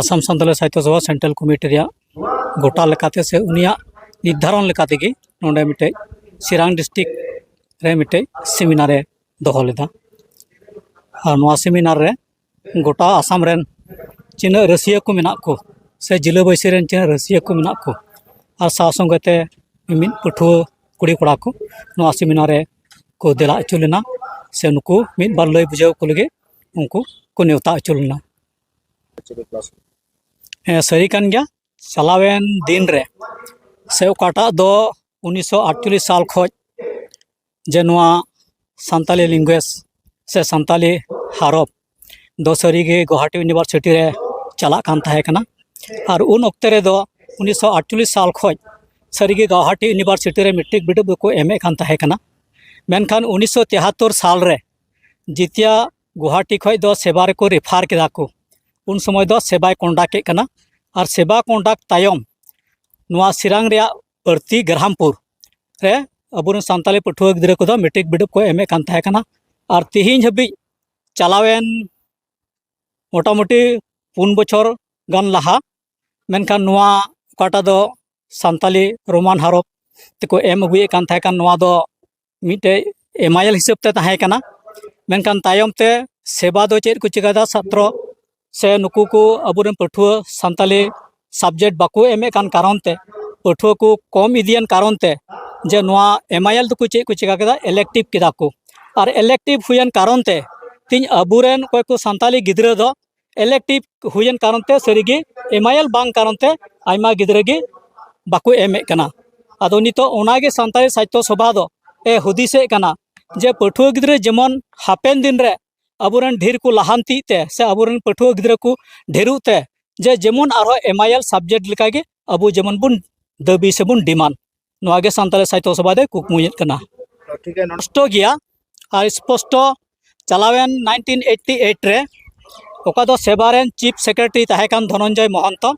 Assam Santali Sahitya Sabha central committee ᱨᱮᱭᱟᱜ ᱜᱚᱴᱟ ᱞᱮᱠᱟᱛᱮ ᱥᱮ ᱩᱱᱤᱭᱟᱜ ᱱᱤᱨᱫᱷᱟᱨᱚᱱ ᱞᱮᱠᱟ ᱛᱮᱜᱮ ᱱᱚᱰᱮ ᱢᱤᱫᱴᱮᱱ ᱪᱤᱨᱟᱝ ᱰᱤᱥᱴᱤᱠ ᱨᱮ ᱢᱤᱫᱴᱮᱱ ᱥᱮᱢᱤᱱᱟᱨᱮ ᱫᱚᱦᱚ ᱞᱮᱫᱟ ᱟᱨ ᱱᱚᱣᱟ ᱥᱮᱢᱤᱱᱟᱨ ᱨᱮ ᱜᱚᱴᱟ ᱟᱥᱟᱢ ᱨᱮᱱ ᱛᱤᱱᱟᱹᱜ ᱨᱟᱹᱥᱭᱟᱹ ᱠᱚ ᱢᱮᱱᱟᱜ ᱠᱚ ᱥᱮ ᱡᱮᱞᱟᱹ ᱵᱟᱹᱭᱥᱤ ᱨᱮᱱ ᱛᱤᱱᱟᱹᱜ ᱨᱟᱹᱥᱭᱟᱹ ᱠᱚ ᱢᱮᱱᱟᱜ ᱠᱚ ᱟᱨ ᱥᱟᱶ ᱥᱚᱸᱜᱮ ᱛᱮ ᱢᱤᱢᱤᱫ ᱯᱟᱹᱴᱷᱩᱣᱟᱹ ᱠᱩᱲᱤ ᱠᱚᱲᱟ ᱠᱚ ᱱᱚᱣᱟ ᱥᱮᱢᱤᱱᱟᱨ ᱨᱮ ᱠᱚ ᱫᱮᱞᱟ ᱦᱚᱪᱚ ᱞᱮᱱᱟ ᱥᱮ ᱱᱩᱠᱩ ᱢᱤᱫ ᱵᱟᱨ ᱞᱟᱹᱭ ᱵᱩᱡᱷᱟᱹᱣ ᱠᱚ ᱞᱟᱹᱜᱤᱫ ᱩᱱᱠᱩ ᱠᱚ ᱱᱮᱣᱛᱟ ᱦᱚᱪᱚ ᱞᱮᱱᱟ ᱦᱮᱸ ᱥᱟᱹᱨᱤ ᱠᱟᱱ ᱜᱮᱭᱟ ᱪᱟᱞᱟᱣᱮᱱ ᱫᱤᱱ ᱨᱮ ᱥᱮ ᱚᱠᱟᱴᱟᱜ ᱫᱚ ᱩᱱᱤᱥᱥᱚ ᱟᱴᱪᱚᱞᱞᱤᱥ ᱥᱟᱞ ᱠᱷᱚᱱ ᱡᱮ ᱱᱚᱣᱟ ᱥᱟᱱᱛᱟᱞᱤ ᱞᱮᱝᱜᱩᱭᱮᱡᱽ ᱥᱮ ᱥᱟᱱᱛᱟᱞᱤ ᱦᱟᱨᱚᱯ ᱫᱚ ᱥᱟᱹᱨᱤᱜᱮ ᱜᱳᱦᱟᱴᱤ ᱤᱭᱩᱱᱤᱵᱷᱟᱨᱥᱤᱴᱤ ᱨᱮ ᱪᱟᱞᱟᱜ ᱠᱟᱱ ᱛᱟᱦᱮᱸ ᱠᱟᱱᱟ ᱟᱨ ᱩᱱ ᱚᱠᱛᱮ ᱨᱮᱫᱚ ᱩᱱᱤᱥᱥᱚ ᱟᱴᱪᱚᱞᱞᱤᱥ ᱥᱟᱞ ᱠᱷᱚᱱ ᱥᱟᱹᱨᱤᱜᱮ ᱜᱳᱦᱟᱴᱤ ᱤᱭᱩᱱᱤᱵᱷᱟᱨᱥᱤᱴᱤ ᱨᱮ ᱢᱮᱴᱨᱤᱠ ᱵᱤᱰᱟᱹᱣ ᱫᱚᱠᱚ ᱮᱢᱮᱫ ᱠᱟᱱ ᱛᱟᱦᱮᱸ ᱠᱟᱱᱟ ᱢᱮᱱᱠᱷᱟᱱ ᱩᱱᱤᱥᱥᱚ ᱛᱮᱦᱟᱛᱛᱚᱨ ᱥᱟᱞ ᱨᱮ ᱡᱤᱛᱤᱭᱟ ᱜᱩᱣᱟᱦᱟᱴᱤ ᱠᱷᱚᱱ ᱫᱚ ᱥᱮᱵᱟ ᱨᱮᱠᱚ ᱨᱮᱯᱷᱟᱨ ᱠᱮᱫᱟ ᱠᱚ ᱩᱱ ᱥᱚᱢᱚᱭ ᱫᱚ ᱥᱮᱵᱟᱭ ᱠᱚᱱᱰᱟᱠᱴ ᱮᱫ ᱠᱟᱱᱟ ᱟᱨ ᱥᱮᱵᱟ ᱠᱚᱱᱰᱟᱠᱴ ᱛᱟᱭᱚᱢ ᱱᱚᱣᱟ ᱥᱤᱨᱟᱝ ᱨᱮᱭᱟᱜ ᱯᱟᱹᱨᱛᱤ ᱜᱨᱟᱢᱯᱩᱨ ᱨᱮ ᱟᱵᱚᱨᱮᱱ ᱥᱟᱱᱛᱟᱲᱤ ᱯᱟᱹᱴᱷᱩᱣᱟᱹ ᱜᱤᱫᱽᱨᱟᱹ ᱠᱚᱫᱚ ᱢᱮᱴᱨᱤᱠ ᱵᱤᱰᱟᱹᱣ ᱠᱚ ᱮᱢᱮᱫ ᱠᱟᱱ ᱛᱟᱦᱮᱸ ᱠᱟᱱᱟ ᱟᱨ ᱛᱮᱦᱮᱧ ᱦᱟᱹᱵᱤᱡ ᱪᱟᱞᱟᱣᱮᱱ ᱢᱚᱴᱟᱢᱩᱴᱤ ᱯᱩᱱ ᱵᱚᱪᱷᱚᱨ ᱜᱟᱱ ᱞᱟᱦᱟ ᱢᱮᱱᱠᱷᱟᱱ ᱱᱚᱣᱟ ᱚᱠᱟᱴᱟᱜ ᱫᱚ ᱥᱟᱱᱛᱟᱲᱤ ᱨᱳᱢᱟᱱ ᱦᱚᱨᱚᱯ ᱛᱮᱠᱚ ᱮᱢ ᱟᱹᱜᱩᱭᱮᱫ ᱠᱟᱱ ᱛᱟᱦᱮᱸ ᱠᱟᱱ ᱱᱚᱣᱟ ᱫᱚ ᱢᱤᱫᱴᱮᱡ ᱮᱢᱟᱭᱮᱞ ᱦᱤᱥᱟᱹᱵ ᱛᱮ ᱛᱟᱦᱮᱸ ᱠᱟᱱᱟ ᱢᱮᱱᱠᱷᱟᱱ ᱛᱟᱭᱚᱢ ᱛᱮ ᱥᱮᱵᱟ ᱫᱚ ᱪᱮᱫ ᱠᱚ ᱪᱤᱠᱟᱹᱭᱮᱫᱟ ᱥᱟᱛᱨᱚ ᱥᱮ ᱱᱩᱠᱩ ᱠᱚ ᱟᱵᱚᱨᱮᱱ ᱯᱟᱹᱴᱷᱩᱣᱟᱹ ᱥᱟᱱᱛᱟᱞᱤ ᱥᱟᱵᱡᱮᱠᱴ ᱵᱟᱠᱚ ᱮᱢᱮᱫ ᱠᱟᱱ ᱠᱟᱨᱚᱱ ᱛᱮ ᱯᱟᱹᱴᱷᱩᱣᱟᱹ ᱠᱚ ᱠᱚᱢ ᱤᱫᱤᱭᱮᱱ ᱠᱟᱨᱚᱱ ᱛᱮ ᱡᱮ ᱱᱚᱣᱟ ᱮᱢᱟᱭᱮᱞ ᱫᱚᱠᱚ ᱪᱮᱫ ᱠᱚ ᱪᱤᱠᱟᱹ ᱠᱮᱫᱟ ᱤᱞᱮᱠᱴᱤᱵᱷ ᱠᱮᱫᱟ ᱠᱚ ᱟᱨ ᱤᱞᱮᱠᱴᱤᱵᱷ ᱦᱩᱭᱮᱱ ᱠᱟᱨᱚᱱ ᱛᱮ ᱛᱮᱦᱮᱧ ᱟᱵᱚᱨᱮᱱ ᱚᱠᱚᱭ ᱠᱚ ᱥᱟᱱᱛᱟᱞᱤ ᱜᱤᱫᱽᱨᱟᱹ ᱫᱚ ᱤᱞᱮᱠᱴᱤᱵᱷ ᱦᱩᱭᱮᱱ ᱠᱟᱨᱚᱱ ᱛᱮ ᱥᱟᱹᱨᱤᱜᱮ ᱮᱢᱟᱭᱮᱞ ᱵᱟᱝ ᱠᱟᱨᱚᱱ ᱛᱮ ᱟᱭᱢᱟ ᱜᱤᱫᱽᱨᱟᱹ ᱜᱮ ᱵᱟᱠᱚ ᱮᱢᱮᱫ ᱠᱟᱱᱟ ᱟᱫᱚ ᱱᱤᱛᱚᱜ ᱚᱱᱟᱜᱮ ᱥᱟᱱᱛᱟᱲᱤ ᱥᱟᱦᱤᱛᱛᱚ ᱥᱚᱵᱷᱟ ᱫᱚ ᱮ ᱦᱩᱫᱤᱥᱮᱫ ᱠᱟᱱᱟ ᱡᱮ ᱯᱟᱹᱴᱷᱩᱣᱟᱹ ᱜᱤᱫᱽᱨᱟᱹ ᱡᱮᱢᱚᱱ ᱦᱟᱯᱮᱱ ᱫᱤᱱ ᱨᱮ ᱟᱵᱚᱨᱮᱱ ᱰᱷᱮᱨ ᱠᱚ ᱞᱟᱦᱟᱱᱛᱤᱜ ᱛᱮ ᱥᱮ ᱟᱵᱚᱨᱮᱱ ᱯᱟᱹᱴᱷᱩᱣᱟᱹ ᱜᱤᱫᱽᱨᱟᱹ ᱠᱚ ᱰᱷᱮᱨᱚᱜ ᱛᱮ ᱡᱮ ᱡᱮᱢᱚᱱ ᱟᱨᱦᱚᱸ ᱮᱢᱟᱭᱮᱞ ᱥᱟᱵᱽᱡᱮᱠᱴ ᱞᱮᱠᱟᱜᱮ ᱟᱵᱚ ᱡᱮᱢᱚᱱ ᱵᱚᱱ ᱫᱟᱹᱵᱤ ᱥᱮᱵᱚᱱ ᱰᱤᱢᱟᱱᱰ ᱱᱚᱣᱟ ᱜᱮ ᱥᱟᱱᱛᱟᱲᱤ ᱥᱟᱦᱤᱛᱭᱚ ᱥᱚᱵᱷᱟ ᱫᱚᱭ ᱠᱩᱠᱢᱩᱭᱮᱫ ᱠᱟᱱᱟ ᱱᱚᱥᱴᱚ ᱜᱮᱭᱟ ᱟᱨ ᱥᱯᱚᱥᱴᱚ ᱪᱟᱞᱟᱣᱮᱱ ᱱᱟᱭᱤᱱᱴᱤᱱ ᱮᱭᱤᱴᱴᱤ ᱮᱭᱤᱴ ᱨᱮ ᱚᱠᱟ ᱫᱚ ᱥᱮᱵᱟ ᱨᱮᱱ ᱪᱤᱯ ᱥᱮᱠᱨᱮᱴᱟᱨᱤ ᱛᱟᱦᱮᱸ ᱠᱟᱱ ᱫᱷᱚᱱᱚᱱᱡᱚᱭ ᱢᱚᱦᱚᱱᱛᱚ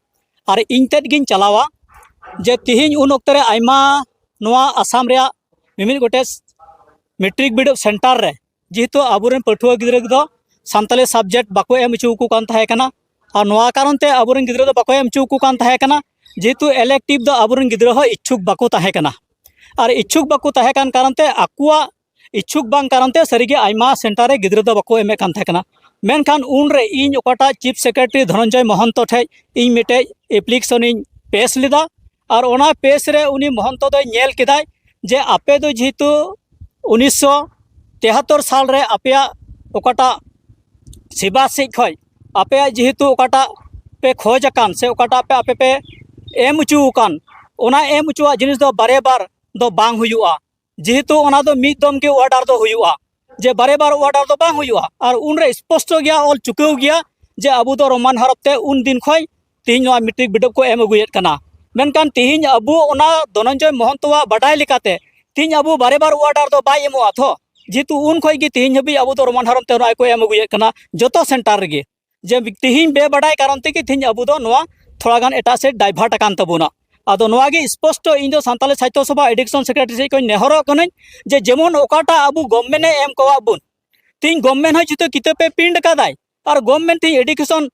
ᱟᱨ ᱤᱧ ᱛᱮᱫ ᱜᱤᱧ ᱪᱟᱞᱟᱣᱟ ᱡᱮ ᱛᱤᱦᱤᱧ ᱩᱱ ᱚᱠᱛᱚ ᱨᱮ ᱟᱭᱢᱟ ᱱᱚᱣᱟ ᱟᱥᱟᱢ ᱨᱮᱭᱟᱜ ᱢᱤᱢᱤᱫ ᱜᱚᱴᱮᱡ ᱢᱮᱴᱨᱤᱠ ᱵᱤᱰᱟᱹᱣ ᱥᱮᱱᱴᱟᱨ ᱨᱮ ᱡᱮᱦᱮᱛᱩ ᱟᱵᱚᱨᱮᱱ ᱯᱟᱹᱴᱷᱩᱣᱟᱹ ᱜᱤᱫᱽᱨᱟᱹ ᱠᱚᱫᱚ ᱥᱟᱱᱛᱟᱞᱤ ᱥᱟᱵᱡᱮᱠᱴ ᱵᱟᱠᱚ ᱮᱢ ᱦᱚᱪᱚ ᱟᱠᱚ ᱠᱟᱱ ᱛᱟᱦᱮᱸ ᱠᱟᱱᱟ ᱟᱨ ᱱᱚᱣᱟ ᱠᱟᱨᱚᱱ ᱛᱮ ᱟᱵᱚᱨᱮᱱ ᱜᱤᱫᱽᱨᱟᱹ ᱫᱚ ᱵᱟᱠᱚ ᱮᱢ ᱦᱚᱪᱚ ᱟᱠᱚ ᱠᱟᱱ ᱛᱟᱦᱮᱸ ᱠᱟᱱᱟ ᱡᱮᱦᱮᱛᱩ ᱤᱞᱮᱠᱴᱤᱵᱷ ᱫᱚ ᱟᱵᱚᱨᱮᱱ ᱜᱤᱫᱽᱨᱟᱹ ᱦᱚᱸ ᱤᱪᱪᱷᱩᱠ ᱵᱟᱠᱚ ᱛᱟᱦᱮᱸ ᱠᱟᱱᱟ ᱟᱨ ᱤᱪᱪᱷᱩᱠ ᱵᱟᱠᱚ ᱛᱟᱦᱮᱸ ᱠᱟᱱ ᱠᱟᱨᱚᱱ ᱛᱮ ᱟᱠᱚᱣᱟᱜ ᱤᱪᱪᱷᱩᱠ ᱵᱟᱝ ᱠᱟᱨᱚᱱ ᱛᱮ ᱥᱟᱹᱨᱤᱜᱮ ᱟᱭᱢᱟ ᱥᱮᱱᱴᱟᱨ ᱨᱮ ᱜᱤᱫᱽᱨᱟᱹ ᱫᱚ ᱵᱟᱠᱚ ᱮᱢᱮᱫ ᱠᱟᱱ ᱛᱟᱦᱮᱸ ᱠᱟᱱᱟ ᱢᱮᱱᱠᱷᱟᱱ ᱩᱱᱨᱮ ᱤᱧ ᱚᱠᱟᱴᱟᱜ ᱪᱤᱯ ᱥᱮᱠᱨᱮᱴᱟᱨᱤ ᱫᱷᱚᱱᱚᱱᱡᱚᱭ ᱢᱚᱦᱚᱱᱛᱚ ᱴᱷᱮᱡ ᱤᱧ ᱢᱤᱫᱴᱮᱡ ᱮᱯᱞᱤᱠᱮᱥᱚᱱᱤᱧ ᱯᱮᱥ ᱞᱮᱫᱟ ᱟᱨ ᱚᱱᱟ ᱯᱮᱡᱽ ᱨᱮ ᱩᱱᱤ ᱢᱚᱦᱚᱱᱛᱚ ᱫᱚᱭ ᱧᱮᱞ ᱠᱮᱫᱟᱭ ᱡᱮ ᱟᱯᱮ ᱫᱚ ᱡᱮᱦᱮᱛᱩ ᱩᱱᱤᱥᱥᱚ ᱛᱮᱦᱟᱛᱛᱚᱨ ᱥᱟᱞ ᱨᱮ ᱟᱯᱮᱭᱟᱜ ᱚᱠᱟᱴᱟᱜ ᱥᱮᱵᱟ ᱥᱮᱡ ᱠᱷᱚᱡ ᱟᱯᱮᱭᱟᱜ ᱡᱮᱦᱮᱛᱩ ᱚᱠᱟᱴᱟᱜ ᱯᱮ ᱠᱷᱚᱡᱽ ᱟᱠᱟᱱ ᱥᱮ ᱚᱠᱟᱴᱟᱜ ᱯᱮ ᱟᱯᱮ ᱯᱮ ᱮᱢ ᱚᱪᱚ ᱟᱠᱟᱱ ᱚᱱᱟ ᱮᱢ ᱚᱪᱚᱣᱟᱜ ᱡᱤᱱᱤᱥ ᱫᱚ ᱵᱟᱨᱮ ᱵᱟᱨ ᱫᱚ ᱵᱟᱝ ᱦᱩᱭᱩᱜᱼᱟ ᱡᱮᱦᱮᱛᱩ ᱚᱱᱟ ᱫᱚ ᱢᱤᱫ ᱫᱚᱢ ᱜᱮ ᱚᱨᱰᱟᱨ ᱫᱚ ᱦᱩᱭᱩᱜᱼᱟ ᱡᱮ ᱵᱟᱨᱮ ᱵᱟᱨ ᱚᱨᱰᱟᱨ ᱫᱚ ᱵᱟᱝ ᱦᱩᱭᱩᱜᱼᱟ ᱟᱨ ᱩᱱᱨᱮ ᱥᱯᱚᱥᱴᱚ ᱜᱮᱭᱟ ᱚᱞ ᱪᱩᱠᱟᱹᱣ ᱜᱮᱭᱟ ᱡᱮ ᱟᱵᱚ ᱫᱚ ᱨᱳᱢᱟᱱ ᱦᱚᱨᱚᱯ ᱛᱮ ᱩᱱ ᱫᱤᱱ ᱠᱷᱚᱱ ᱛᱮᱦᱮᱧ ᱱᱚᱣᱟ ᱢᱮᱴᱨᱤᱠ ᱵᱤᱰᱟᱹᱣ ᱠᱚ ᱮᱢ ᱟᱹᱜᱩᱭᱮᱫ ᱠᱟᱱᱟ ᱢᱮᱱᱠᱷᱟᱱ ᱛᱮᱦᱮᱧ ᱟᱵᱚ ᱚᱱᱟ ᱫᱷᱚᱱᱚᱱᱡᱚᱭ ᱢᱚᱦᱚᱱᱛᱚᱣᱟᱜ ᱵᱟᱰᱟᱭ ᱞᱮᱠᱟᱛᱮ ᱛᱮᱦᱮᱧ ᱟᱵᱚ ᱵᱟᱨᱮ ᱵᱟᱨ ᱚᱨᱰᱟᱨ ᱫᱚ ᱵᱟᱭ ᱮᱢᱚᱜᱼᱟ ᱛᱷᱚ ᱡᱮᱦᱮᱛᱩ ᱩᱱ ᱠᱷᱚᱱ ᱜᱮ ᱛᱮᱦᱮᱧ ᱦᱟᱹᱵᱤᱡ ᱟᱵᱚ ᱫᱚ ᱨᱳᱢᱟᱱ ᱦᱚᱨᱚᱯ ᱛᱮ ᱱᱚᱜᱼᱚᱭ ᱠᱚ ᱮᱢ ᱟᱹᱜᱩᱭᱮᱫ ᱠᱟᱱᱟ ᱡᱚᱛᱚ ᱥᱮᱱᱴᱟᱨ ᱨᱮᱜᱮ ᱡᱮ ᱛᱤᱦᱤᱧ ᱵᱮᱵᱟᱰᱟᱭ ᱠᱟᱨᱚᱱ ᱛᱮᱜᱮ ᱛᱤᱦᱤᱧ ᱟᱵᱚ ᱫᱚ ᱱᱚᱣᱟ ᱛᱷᱚᱲᱟ ᱜᱟᱱ ᱮᱴᱟᱜ ᱥᱮᱫ ᱰᱟᱭᱵᱷᱟᱨᱴ ᱟᱠᱟᱱ ᱛᱟᱵᱚᱱᱟ ᱟᱫᱚ ᱱᱚᱣᱟ ᱜᱮ ᱥᱯᱚᱥᱴᱚ ᱤᱧ ᱫᱚ ᱥᱟᱱᱛᱟᱞᱤ ᱥᱟᱦᱤᱛᱭᱚ ᱥᱚᱵᱷᱟ ᱮᱰᱤᱠᱥᱚᱱ ᱥᱮᱠᱨᱮᱴᱟᱨᱤ ᱥᱮᱫ ᱠᱷᱚᱱ ᱱᱮᱦᱚᱨᱚᱜ ᱠᱟᱹᱱᱟᱹᱧ ᱡᱮ ᱡᱮᱢᱚᱱ ᱚᱠᱟᱴᱟᱜ ᱟᱵᱚ ᱜᱚᱵᱷᱢᱮᱱᱴ ᱮ ᱮᱢ ᱠᱟᱣᱟᱜ ᱵᱚᱱ ᱛᱤᱦᱤᱧ ᱜᱚᱵᱷᱢᱮᱱᱴ ᱦᱚᱸ ᱡᱩᱫᱤ ᱠᱤᱛᱟᱹᱵ ᱮ ᱯᱨᱤᱱᱴ ᱟᱠᱟᱫᱟᱭ ᱟᱨ ᱜᱚᱵᱷᱢᱮᱱᱴ ᱛᱤᱦᱤᱧ ᱮᱰᱩᱠᱮᱥᱚᱱ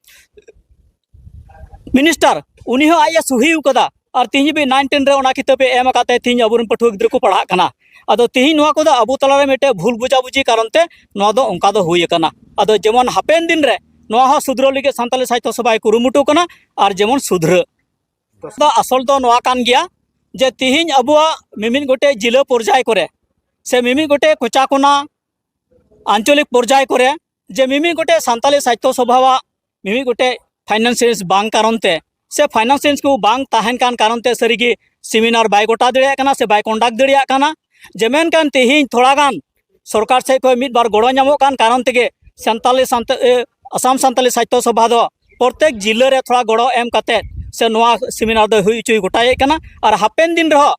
ᱢᱤᱱᱤᱥᱴᱟᱨ ᱩᱱᱤ ᱦᱚᱸ ᱟᱡ ᱮ ᱥᱩᱦᱤ ᱟᱠᱟᱫᱟ ᱟᱨ ᱛᱤᱦᱤᱧ ᱦᱟᱹᱵᱤᱡ ᱱᱟᱭᱤᱱ ᱴᱮᱱ ᱨᱮ ᱚᱱᱟ ᱠᱤᱛᱟᱹᱵ ᱮ ᱮᱢ ᱟᱠᱟᱫ ᱛᱮ ᱛᱤᱦᱤᱧ ᱟᱵᱚᱨᱮᱱ ᱯᱟᱹᱴᱷᱩᱣᱟᱹ ᱜᱤᱫᱽᱨᱟᱹ ᱠᱚ ᱯᱟᱲᱦᱟᱜ ᱠᱟᱱᱟ ᱟᱫᱚ ᱛᱤᱦᱤᱧ ᱱᱚᱣᱟ ᱠᱚᱫᱚ ᱟᱵᱚ ᱛᱟᱞᱟᱨᱮ ᱢᱤᱫᱴᱮᱱ ᱵᱷᱩᱞ ᱵᱩᱡᱟᱵᱩᱡᱤ ᱠᱟᱨᱚᱱ ᱛᱮ ᱱᱚᱣᱟ ᱫᱚ ᱚᱱᱠᱟ ᱫᱚ ᱦᱩᱭ ᱟᱠᱟᱱᱟ ᱟᱫᱚ ᱡᱮᱢᱚᱱ ᱦᱟᱯᱮᱱ ᱫᱤᱱ ᱨᱮ ᱱᱚᱣᱟ ᱦᱚᱸ ᱥᱩᱫᱷᱨᱟᱹᱣ ᱞᱟᱹᱜᱤᱫ ᱥᱟᱱᱛᱟᱞᱤ ᱥᱟᱦᱤᱛᱭᱚ ᱥᱚᱵᱷᱟᱭ ᱠᱩᱨᱩᱢᱩᱴᱩ ᱠᱟᱱᱟ ᱟᱨ ᱡᱮᱢᱚᱱ ᱥᱩᱫᱷᱨᱟᱹ ᱫᱚ ᱟᱥᱚᱞ ᱫᱚ ᱱᱚᱣᱟ ᱠᱟᱱ ᱜᱮᱭᱟ ᱡᱮ ᱛᱤᱦᱤᱧ ᱟᱵᱚᱣᱟᱜ ᱢᱤᱢᱤᱫ ᱜᱚᱴᱮᱡ ᱡᱤᱞᱟᱹ ᱯᱚᱨᱡᱟᱭ ᱠᱚᱨᱮ ᱥᱮ ᱢᱤᱢᱤᱫ ᱜᱚᱴᱮᱡ ᱠᱚᱪᱟ ᱠᱚᱱᱟ ᱟᱧᱪᱚᱞᱤᱠ ᱯᱚᱨᱡᱟᱭ ᱠᱚᱨᱮ ᱡᱮ ᱢᱤᱢᱤᱫ ᱜᱚᱴᱮᱡ ᱥᱟᱱᱛᱟᱞᱤ ᱥᱟᱦᱤᱛᱭᱚ ᱥᱚᱵᱷᱟᱣᱟᱜ ᱢᱤᱢᱤᱫ ᱜᱚᱴᱮᱡ ᱯᱷᱟᱭᱱᱟᱱᱥᱤᱭᱮᱱᱥ ᱵᱟᱝ ᱠᱟᱨᱚᱱ ᱛᱮ ᱥᱮ ᱯᱷᱟᱭᱱᱟᱱᱥᱤᱭᱮᱱᱥ ᱠᱚ ᱵᱟᱝ ᱛᱟᱦᱮᱱ ᱠᱟᱱ ᱠᱟᱨᱚᱱ ᱛᱮ ᱥᱟᱹᱨᱤᱜᱮ ᱥᱮᱢᱤᱱᱟᱨ ᱵᱟᱭ ᱜᱚᱴᱟ ᱫᱟᱲᱮᱭᱟᱜ ᱠᱟᱱᱟ ᱥᱮ ᱵᱟᱭ ᱠᱚᱱᱰᱟᱠᱴ ᱫᱟᱲᱮᱭᱟᱜ ᱠᱟᱱᱟ ᱡᱮ ᱢᱮᱱᱠᱷᱟᱱ ᱛᱮᱦᱮᱧ ᱛᱷᱚᱲᱟ ᱜᱟᱱ ᱥᱚᱨᱠᱟᱨ ᱥᱮᱫ ᱠᱷᱚᱱ ᱢᱤᱫ ᱵᱟᱨ ᱜᱚᱲᱚ ᱧᱟᱢᱚᱜ ᱠᱟᱱ ᱠᱟᱨᱚᱱ ᱛᱮᱜᱮ ᱥᱟᱱᱛᱟᱞᱤ ᱥᱟᱱᱛᱟ ᱟᱥᱟᱢ ᱥᱟᱱᱛᱟᱞᱤ ᱥᱟᱦᱤᱛᱭᱚ ᱥᱚᱵᱷᱟ ᱫᱚ ᱯᱨᱚᱛᱮᱠ ᱡᱤᱞᱟᱹ ᱨᱮ ᱛᱷᱚᱲᱟ ᱜᱚᱲᱚ ᱮᱢ ᱠᱟᱛᱮ ᱥᱮ ᱱᱚᱣᱟ ᱥᱮᱢᱤᱱᱟᱨ ᱫᱚ ᱦᱩᱭ ᱦᱚᱪᱚᱭ ᱜᱚᱴᱟᱭᱮᱫ ᱠᱟᱱᱟ ᱟᱨ ᱦᱟᱯᱮᱱ ᱫᱤᱱ ᱨᱮᱦᱚᱸ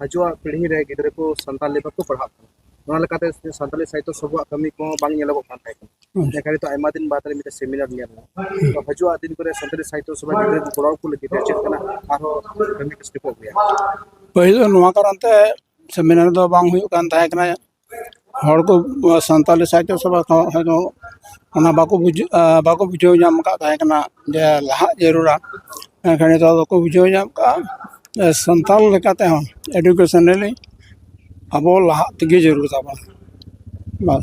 ᱦᱤᱡᱩᱜ ᱯᱤᱲᱦᱤ ᱨᱮ ᱜᱤᱫᱽᱨᱟᱹ ᱠᱚ ᱥᱟᱱᱛᱟᱞᱤ ᱵᱟᱠᱚ ᱯᱟᱲᱦᱟᱜ ᱠᱟᱱᱟ ᱚᱱᱟ ᱞᱮᱠᱟᱛᱮ ᱥᱟᱱᱛᱟᱞᱤ ᱥᱟᱦᱤᱛᱛᱚ ᱥᱚᱵᱷᱟᱣᱟᱜ ᱠᱟᱹᱢᱤ ᱠᱚ ᱵᱟᱝ ᱧᱮᱞᱚᱜᱚᱜ ᱠᱟᱱ ᱛᱟᱦᱮᱸ ᱠᱟᱱᱟ ᱢᱮᱱᱠᱷᱟᱱ ᱱᱤᱛᱚᱜ ᱟᱭᱢᱟ ᱫᱤᱱ ᱵᱟᱫᱽ ᱨᱮ ᱢᱤᱫᱴᱮᱱ ᱥᱮᱢᱤᱱᱟᱨ ᱧᱮᱞ ᱮᱱᱟ ᱛᱚ ᱦᱤᱡᱩᱜ ᱫᱤᱱ ᱠᱚᱨᱮ ᱥᱟᱱᱛᱟᱞᱤ ᱥᱟᱦᱤᱛᱛᱚ ᱥᱚᱵᱷᱟ ᱜᱤᱫᱽᱨᱟᱹ ᱠᱚ ᱜᱚᱲᱚ ᱟᱠᱚ ᱞᱟᱹᱜᱤᱫ ᱛᱮ ᱪᱮᱫ ᱠᱟᱱᱟ ᱟᱨᱦᱚᱸ ᱠᱟᱹᱢᱤ ᱠᱚ ᱥᱴᱮᱯᱚᱜ ᱜᱮᱭᱟ ᱯᱟᱹᱦᱤᱞ ᱫᱚ ᱱᱚᱣᱟ ᱠᱟᱨᱚᱱ ᱛᱮ ᱥᱮᱢᱤᱱᱟᱨ ᱫᱚ ᱵᱟᱝ ᱦᱩᱭᱩᱜ ᱠᱟᱱ ᱛᱟᱦᱮᱸ ᱠᱟᱱᱟ ᱦᱚᱲ ᱠᱚ ᱥᱟᱱᱛᱟᱞᱤ ᱥᱟᱦᱤᱛᱛᱚ ᱥᱚᱵᱷᱟ ᱠᱚᱦᱚᱸ ᱦᱚᱭᱛᱳ ᱚᱱᱟ ᱵᱟᱠᱚ ᱵᱩᱡᱷᱟᱹᱣᱟ ᱵᱟᱠᱚ ᱵᱩᱡᱷᱟᱹᱣ ᱧᱟᱢ ᱠᱟᱜ ᱛᱟᱦᱮᱸ ᱠᱟᱱᱟ ᱡᱮ ᱞᱟᱦᱟᱜ ᱡᱟᱹᱨᱩᱲᱟ ᱢᱮᱱᱠᱷᱟᱱ ᱱᱤᱛᱚᱜ ᱫᱚᱠᱚ ᱵᱩᱡᱷᱟᱹᱣ ᱧᱟᱢ ᱠᱟᱜᱼᱟ ᱥᱟᱱᱛᱟᱲ ᱞᱮᱠᱟ ᱛᱮᱦᱚᱸ ᱮᱰᱩᱠᱮᱥᱚᱱᱟᱞᱤ ᱟᱵᱚ ᱞᱟᱦᱟᱜ ᱛᱮᱜᱮ ᱡᱟᱹᱨᱩᱲ ᱛᱟᱵᱚᱱᱟ ᱵᱟᱥ